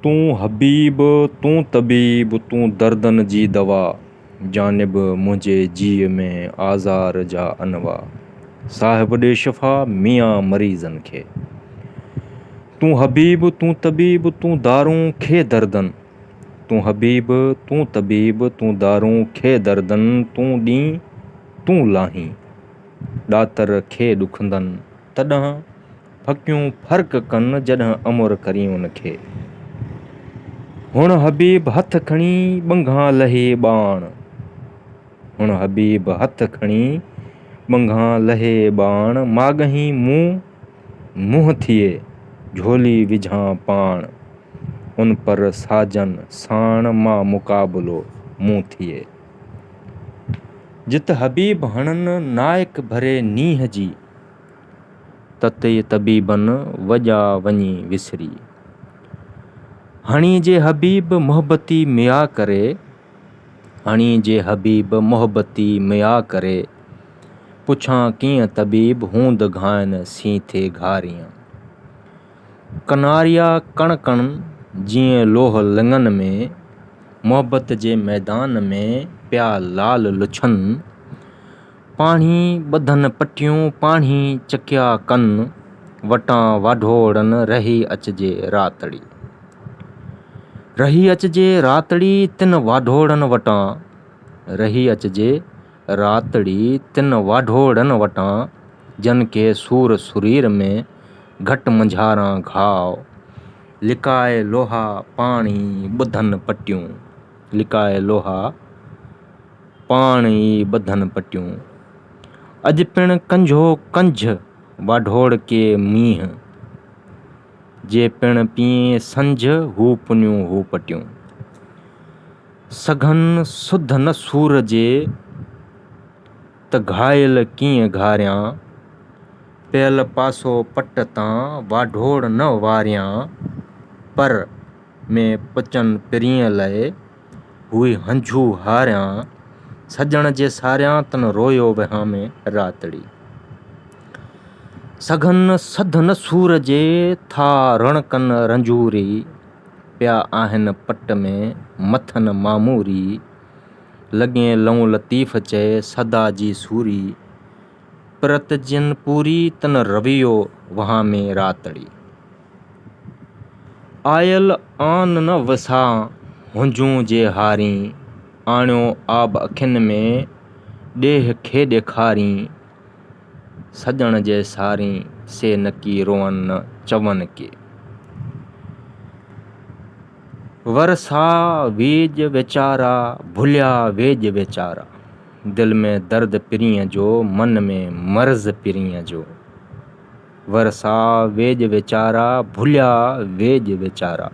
تون حبيب تون طبيب تون دردن جي دوا جانب منهنجي جيء ۾ آزار جا انواع صاحب ڏي شفا ميان مريضن کي تون حبيب تون طبيب تون دارون کي دردن تون حبيب تون طبيب تون دارون کي دردن تون ڏين تون لاهين ڏاتر کي ڏکندن تڏهن ڦڪيون ڦرڪ ڪن جڏهن امر ڪرين ان کي. هڻ حبيب هٿ کڻي ٻنگهان لهي ٻاڻ. هڻ حبيب هٿ کڻي ٻنگهان لهي ٻاڻ ماڳهين مون منهن ٿئي جهولي وجهان پاڻ ان پر ساجن ساڻ مان مقابلو مون ٿئي. جت حبيب هڻن نائڪ ڀري نينهن جي. تتي طبيبن وڄا وڃي وسري. هڻي جي حبيب محبتي ميا ڪري، هڻي جي حبيب محبتي ميا ڪري، پڇان ڪيئن طبيب هوند گهائن سين ٿي گهاريئن. ڪناريا ڪڻ ڪڻ جيئن لوهه لڱن ۾، محبت جي ميدان ۾ پيا لال لڇن. پاڻهي ٻڌن پٽيون پاڻهي چڪيا ڪن، وٽان واڍوڙن رهي اچجي راتڙي. رهي اچجي راتڙي تن واڍوڙن وٽان، رهي اچجي راتڙي تن واڍوڙن وٽان، جن کي سور سرير ۾ گهٽ منجهاران گهاء، لڪائي لوها پاڻهي ٻڌن پٽيون، لڪائي لوها. پاڻ ئي ٻڌن پٽيون. اڄ پڻ ڪنجهو ڪنجھ واڍوڙڪي مينهن. جي پڻ پيئين سنجھ هو پنيون هو پٽيون. سگهن سڌ نه سور جي ته گهائل ڪيئن گهاريان. پيل پاسو پٽ تان واڍوڙ نه واريان. پر ۾ پچن پرينء لئه. هئي هنجهو هاريان، سڄڻ جي ساريان تن رويو وهامي راتڙي. سگهن سڌن سور جي ٿا رڻڪن رنجوري، پيا آهن پٽ ۾ مٿن ماموري. لڳين لئون لطيف چئي سدا جي سوري، پرت جن پوري تن رويو وهامي راتڙي. آيل آن نه وسان، هنجون جي هارين. آڻيو آب اکين ۾، ڏيهه کي ڏيکارين. سڄڻ جي سارين، سي نڪي روئن نه چون ڪي. ورسا ويڄ ويچارا، ڀليا ويڄ ويچارا. دل ۾ درد پرينء جو، من ۾ مرض پرينء جو. ورسا ويڄ ويچارا، ڀليا ويڄ ويچارا.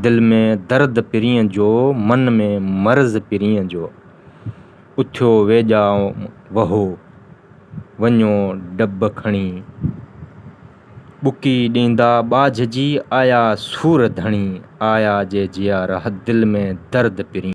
دل ۾ درد پرينء جو، من ۾ مرض پرينء جو. اٿيو ويڄا وهو، وڃو ڊٻ کڻي. ٻڪي ڏيندا ٻاجهه جي، آيا سور ڌڻي. آيا جي جيارا، دل ۾ درد پرينء.